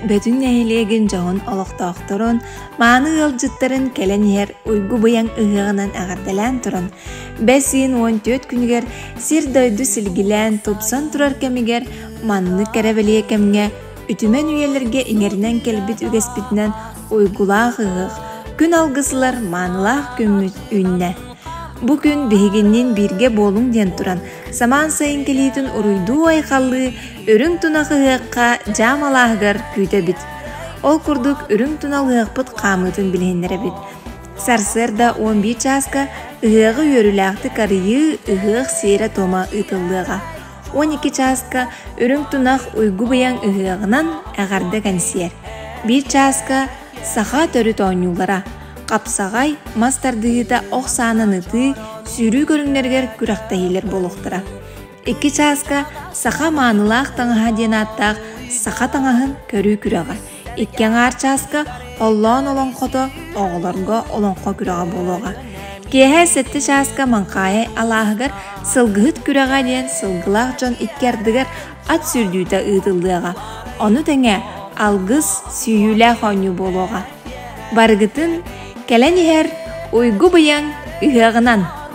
Бөтүн нэһилиэгин дьоһун олохтоохторун, мааны ыалдьыттарын кэлэн иһэр уйгу быйаҥ ыһыаҕынан эҕэрдэлээн туран, бэс ыйын 14 күнүгэр сир-дойду силгилээн тупсан турар кэмигэр маннык кэрэбэлиэ кэмҥэ Үтүмэн үйэлэргэ иҥэринэн кэлбит үгэспитинэн уйгулаах ыһыах, күн алгысылар маанылаах күммүт үүннэ. Бу күн биһигинниин бииргэ буолуҥ диэн туран, самаан сайын кэлиитин уруйдуу-айхаллыы Үрүҥ Тунах ыһыахха дьаам алааһыгар күүтэбит. Ол курдук Үрүҥ Тунал ыһыахпыт хаамыытын билиһиннэрэбит. Сарсыарда 11 чааска ыһыаҕы үөрүүлээхтик арыйыы ыһыах сиэрэ-туома ыытыллыаҕа. он икки чааска үрүҥ тунах уйгу быйаҥ ыһыаҕынан эҕэрдэ кэнсиэр биир чааска саха төрүт оонньуулара хапсаҕай мас тардыһыыта ох саанан ытыы сүүрүү көрүҥнэригэр күрэхтэһиилэр буолуохтара икки чааска саха маанылаах таҥаһа диэн ааттаах саха таҥаһын көрүү күрэҕэ Икки аҥаар чааска Оллоон олоҥхото оҕолорго олоҥхо күрэҕэ буолуоҕа. Киэһэ сэттэ чааска Маҥхаайы алааһыгар Сылгыһыт күрэҕэ диэн сылгылаах дьон икки ардыгар ат сүүрдүүтэ ыытыллыаҕа. Ону тэҥэ алгыс, сүүйүүлээх оонньуу буолуоҕа. Барыгытын кэлэн иһэр уйгу быйаҥ ыһыаҕынан!